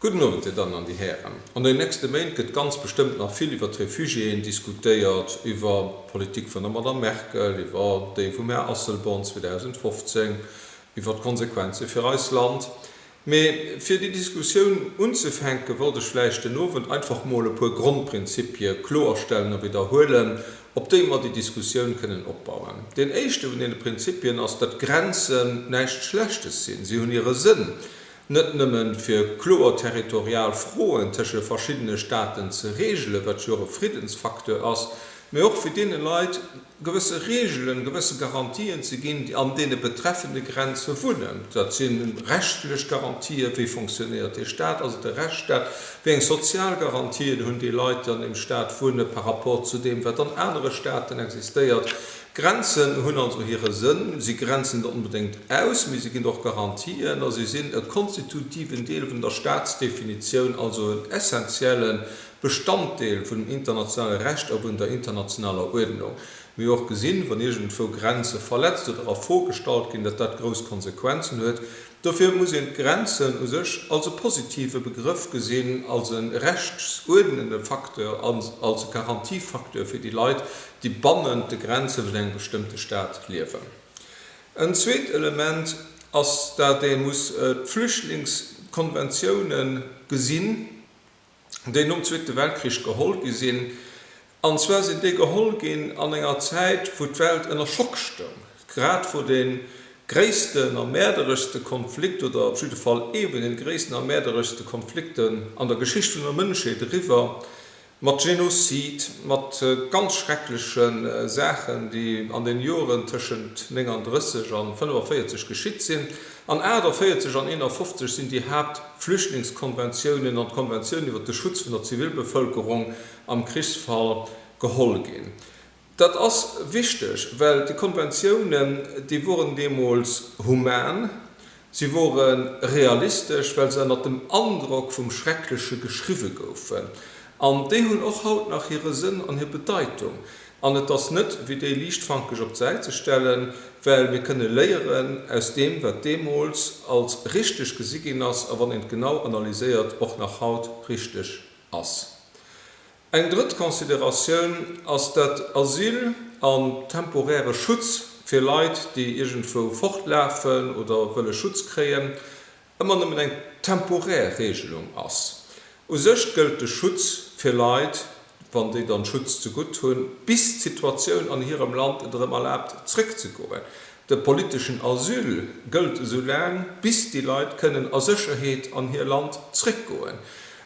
Gudden Owend, Dir Dammen an Dir Hären. An den nächste Méint gëtt ganz bestëmmt nach vill iwwert d'Refugiéen diskutéiert, iwwer d'Politik vun der Madame Merkel, iwwer déi vum Här Asselborn 2015, iwwer d'Konsequenze fir eis Land. Mee fir déi Diskussioun unzefänken, wollt ech vläicht den Owend einfach mol e puer Grondprinzipie kloerstellen a widderhuelen, op déi mer déi Diskussioun kënnen opbauen. Deen éischte vun deene Prinzipien ass, datt Grenzen näischt Schlechtes sinn. Si hunn hire Sënn, net nëmme fir kloer territorial Froen tësche verschiddene Staaten ze reegelen, wat jo och e Friddensfacteur ass, mee och fir deene Leit gewësse Reegelen, gewësse Garantien ze ginn, déi an deene betreffende Grenze wunnen. Dat si rechtlech Garantië, wéi fonctionéiert dee Staat, ass et e Rechtsstaat, Wéi eng sozial Garantien hunn déi Leit, déi an deem Staat wunne par rapport zu deem, wat an anere Staaten existéiert? Grenzen hunn also hire Sënn. Si grenzen net onbedéngt aus, mee si ginn och Garantien a si sinn e konstitutiven Deel vun der Staatsdefinitioun, also en essentielle Bestanddeel vun dem internationale Recht a vun der internationaler Uerdnung. Mir hu jo och gesinn, wann iergendwou Grenze verletzt oder a Fro gestallt ginn, datt dat grouss Konsequenzen huet. Dofir muss een d'Grenzen u sech als e positive Begrëff gesinn, als e rechtsuerdnende Facteur, als e Garantiefacteur fir déi Leit, déi bannent de Grenze vun engem bestëmmte Staat liewen. En zweet Element ass, dat ee muss d'Flüchtlingskonventiounen gesinn. déi nom Zweete Weltkrich geholl gi sinn. An zwar sinn déi geholl ginn an enger Zäit, wou d'Welt ënner Schock stoung, grad wou dee gréissten a mäerdereschste Konflikt, oder op jidde Fall ee vun de gréissten a mäerdereschste Konflikten an der Geschicht vun der Mënschheet eriwwer, mat Genozid, mat ganz schreckleche Saachen, déi an den Joren tëschent 39 a 45 geschitt sinn. An 48 an 51 sinn déi haapt Flüchtlingskonventiounen an d'Konventioun iwwer de Schutz vun der Zivilbevëlkerung am Krichsfall geholl ginn. Dat ass wichteg, well déi Konventiounen, déi woren deemools human, si wore realistesch, well se ënnert dem Androck vum Schreckleche geschriwwe goufen. An déi hunn och haut nach hire Sënn an hir Bedeitung. An et ass net wéi déi liichtfankeg op d'Säit ze stellen, well mir kënne léieren aus deem, wat deemools als richteg gesi ginn ass a wann een et genau analyséiert, och nach haut richteg ass. Eng drëtt Consideratioun ass dat Asyl an temporäre Schutz fir Leit, déi iergendwou fortlafen oder wëlle Schutz kréien, ëmmer nëmmen eng temporär Regelung ass. U sech gëllt de Schutz fir Leit, wann déi dann Schutz zegutt hunn, bis d'Situatioun an hirem Land et erëm erlaabt zréckzegoen. De politeschen Asyl gëllt esou laang, bis déi Leit kënnen a Sécherheet an hir Land zréckgoen.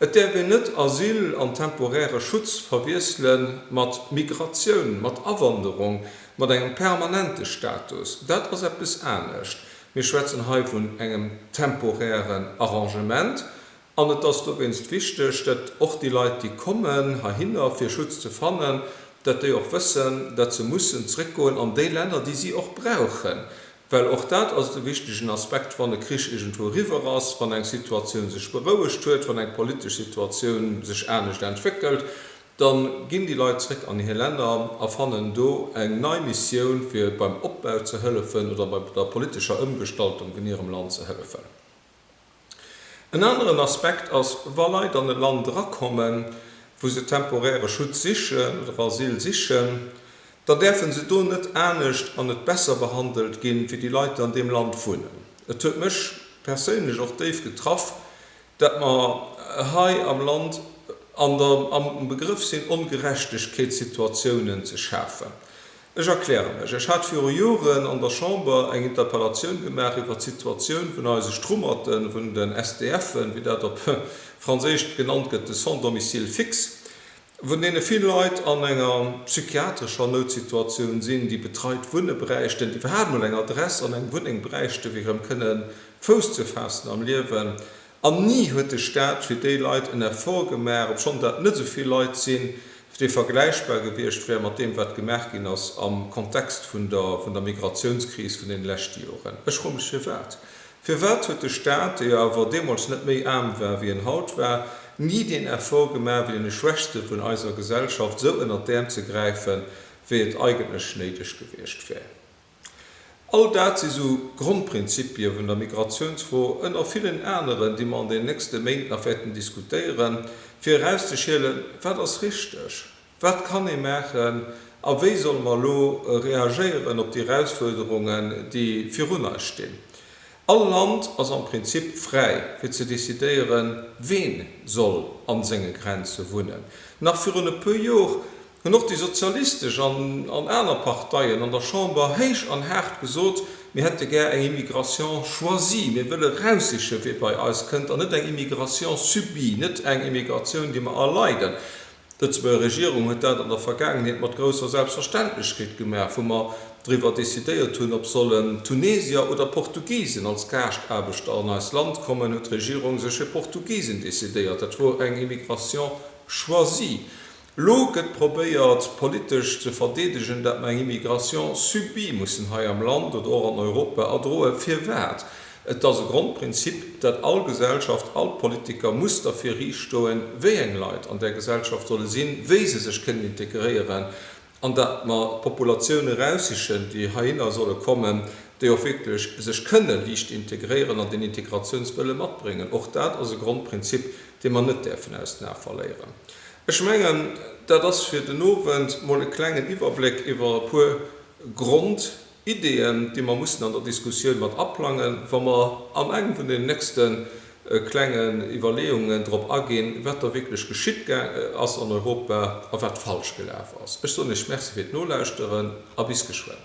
Et däerf een net Asyl an temporäre Schutz verwiessele mat Migratioun, mat Awanderung, mat engem permanente Status. Dat ass eppes anescht. Mir schwätzen hei vun engem temporären Arrangement an et ass dowéinst wichteg, datt och déi Leit, déi kommen heihinner, fir Schutz ze fannen, datt déi och wëssen, datt se mussen zréckgoen an déi Länner, déi si och brauchen, well och dat ass e wichtegen Aspekt, wann e Krich iergendwou eriwwer ass, wann eng Situatioun sech berouegt huet, wann eng politesch Situatioun sech anescht entwéckelt. Dann ginn déi Leit zréck an hir Länner a fannen do eng nei Missioun fir beim Opbau ze hëllefen oder bei der politescher Ëmgestaltung vun hirem Land ze hëllefen. En aneren Aspekt ass, wa Leit an e Land erakommen, wou se temporäre Schutz sichen oder Asyl sichen, da däerfe se do net anescht an net besser behandelt ginn, wéi déi Leit déi an deem Land wunnen. Et huet mech perséinlech och déif getraff, Datt mer hei am Land an der am Begrëff sinn, Ongerechtegkeetssituatiounen ze schafen. Ech erkläre mech. Ech hat viru Joren an der Chamber eng Interpellatioun gemaach iwwert d'Situatioun vun eise Strummerten, vun den SDF'en, wéi dat op Franséisch genannt gëtt, de Sans-domicile fixe. vun deene vill Leit an enger psychiatrescher Noutsituatioun sinn, déi betreit Wunne bräichten, déi iwwerhaapt mol eng Adress an eng Wunneng bräichten, fir erëm kënnen Fouss ze faassen am Liewen. An ni huet de Staat fir déi Leit en Effort gemaach, obschonn dat net esou vill Leit sinn, dee vergläichbar gewiescht wär mat deem, wat gemaach ginn ass am Kontext vun der Migratiounskris vun deene leschte Joren. Ech froe mech, firwat Firwat huet de Staat, dee jo awer deemools net méi aarm war, wéi en haut war, ni deen Effort gemaach, fir deene Schwächste vun eiser Gesellschaft esou ënnert d'Äerm ze gräifen, wéi et eigentlech néideg gewiescht wär? All dat si sou Grondprinzipie vun der Migratiounsfro, ënner villen aneren, déi mer an den nächste Méint nach wäerten diskutéieren, fir erauszeschielen, Wat ass richteg? Wat kann ee maachen a wéi solle mer elo reagéieren op déi Erausfuerderungen, déi virun eis stinn? All Land ass am Prinzip fräi, fir ze decidéieren, ween soll a senge Grenze wunnen. Nach virun e puer Jor hunn och déi sozialistesch an aner Parteien an der Chamber héich an haart gesot, mir hätte gär eng Immigration choisie, mir wëlle eraussichen, wee bei eis kënnt, an net eng Immigration subie, net eng Immigratioun, déi mer erleiden. D'Lëtzebuerger Regierung huet dat an der Vergaangenheet mat grousser Selbstverständlechkeet gemaach, wou mer driwwer decidéiert hunn, ob sollen Tunesier oder Portugisen als Gaaschtaarbechter an eist Land kommen, huet d'Regierung sech fir Portugisen decidéiert. Dat wor eng Immigration choisie. Elo gëtt probéiert politesch ze verdeedegen, dat mer eng Immigration subie mussen hei am Land oder och an Europa erdroen. Firwat? Et ass e Grondprinzip, dat all Gesellschaft, all Politiker muss derfir riichtstoen, wéi eng Leit an där Gesellschaft solle sinn, wéi se sech kënnen integréieren an dat mer d'Populatioune eraussichen, déi heihinner solle kommen, déi och wierklech sech kënne liicht integréieren an deen Integratiounswëlle matbréngen. Och dat ass e Grondprinzip, dee mer net däerfen aus den Ae verléieren. Ech mengen, dat ass fir den Owend mol e klengen Iwwerbléck iwwer e puer Grond. Ideen, déi mer mussen an der Diskussioun mat aplangen, wa mer an engem vun den nächste klengen Iwwerleeungen drop aginn, wat da wierklech geschitt ass an Europa a wat falsch gelaf ass. Ech soen Iech Merci fir d'Nolauschteren a bis geschwënn.